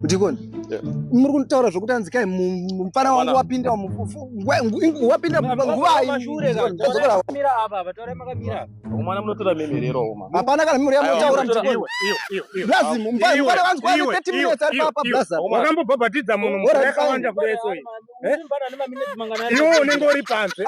ndikoni muri kutaura zvekuti anzi kai mupfana wangu wapinda wapinda nguvaihapana kana mimuri yamotaura mtiaakambobhabhatidza munhu yakawanda kureso iwe unenge uri panze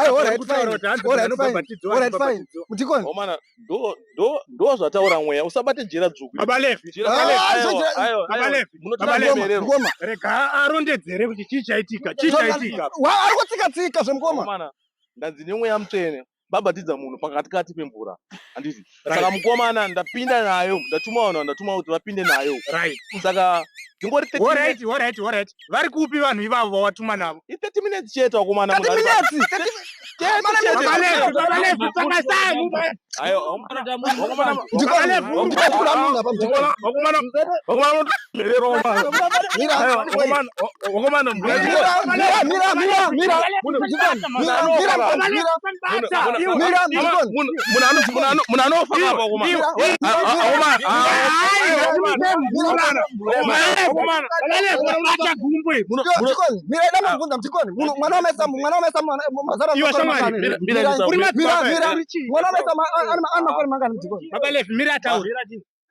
Ndo ndo ndo zvataura mweya usabate jira dzvuku. Baba Levi. Jira baba Levi. Aiwa, aiwa, aiwa. Baba Levi. Baba Munotanga Levi. kumererwa. Mukoma. Rega arondedzere kuti chii chaitika. Chii chaitika. Wa- Ari kutsika tsika zvemukoma. Mukomana, ndanzi nemweya mutsvene babatidza munhu pakati kati pemvura handiti saka Right. mukomana ndapinda nayo ndatuma vanhu vandatuma kuti vapinde nayo Right. saka ndingori 30 minutes. Alright, alright, alright. vari kupi vanhu ivavo vawatuma navo i 30 minutes chete wakomana munhu anofa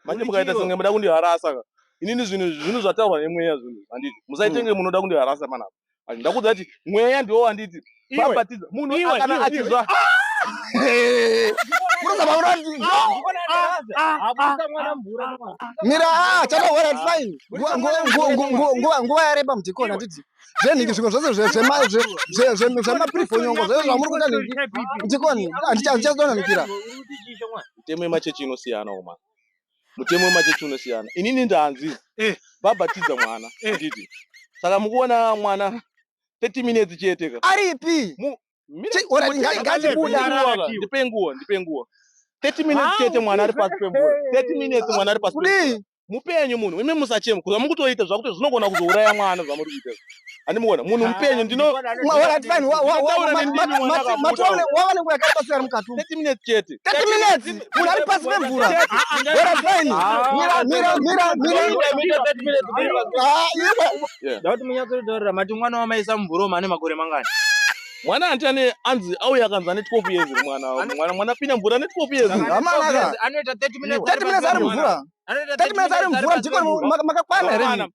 manje mukaita senge muda kundiharasa inini zvinhu zvinhu zvataurwa nemweya zvinhu handiti musaitenge munoda kundiharasa panapa ndakuudza kuti mweya ndiwo wanditi bapatiza munhu kana achizwa mira ah, chatohora fine nguva yareba mudhikoni handiti zvenhingi zvimwe zvose zvemaprifonyongo zvoe zvamuri kuita nhingi mudhikoni handichazodonamikira mitemo yemachechi inosiyanawo mani mutemo wemachechi unosiyana inini ndanzi eh. vabatidza mwana eh. nditi saka mukuona mwana 30 minutes chete ka aripi ndipe nguwa ndipe nguwa 30 minutes chete mwana ari pasi pemvura 30 minutes mwana ari pasi mupenyu munhu imi musachema kuza mukutoita zvakuti zvinogona kuzouraya mwana zvamuri kuita andimuona munhu ah, mupenyu ndinowanenguva yakapasira mukati minutes chete minutes munhu ari pasi pemvura werasaini ndauti munyatsoritorera mati mwana wamaisa mumvura omane makore mangani mwana anti ane anzi auya akanzi ane 12 years mwana mwana mwana pina mvura ane 12 years anoita 30 minutes 30 minutes ari mvura 30 minutes ari mvura ndiko makakwana here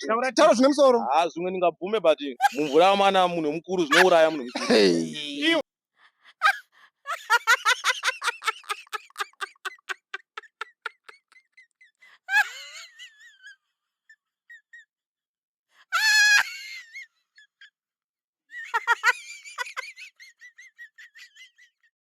taura taura zvine musoro ha zvimwe ndingabvume but mumvura amana munhu mukuru zvinouraya munhu mukuru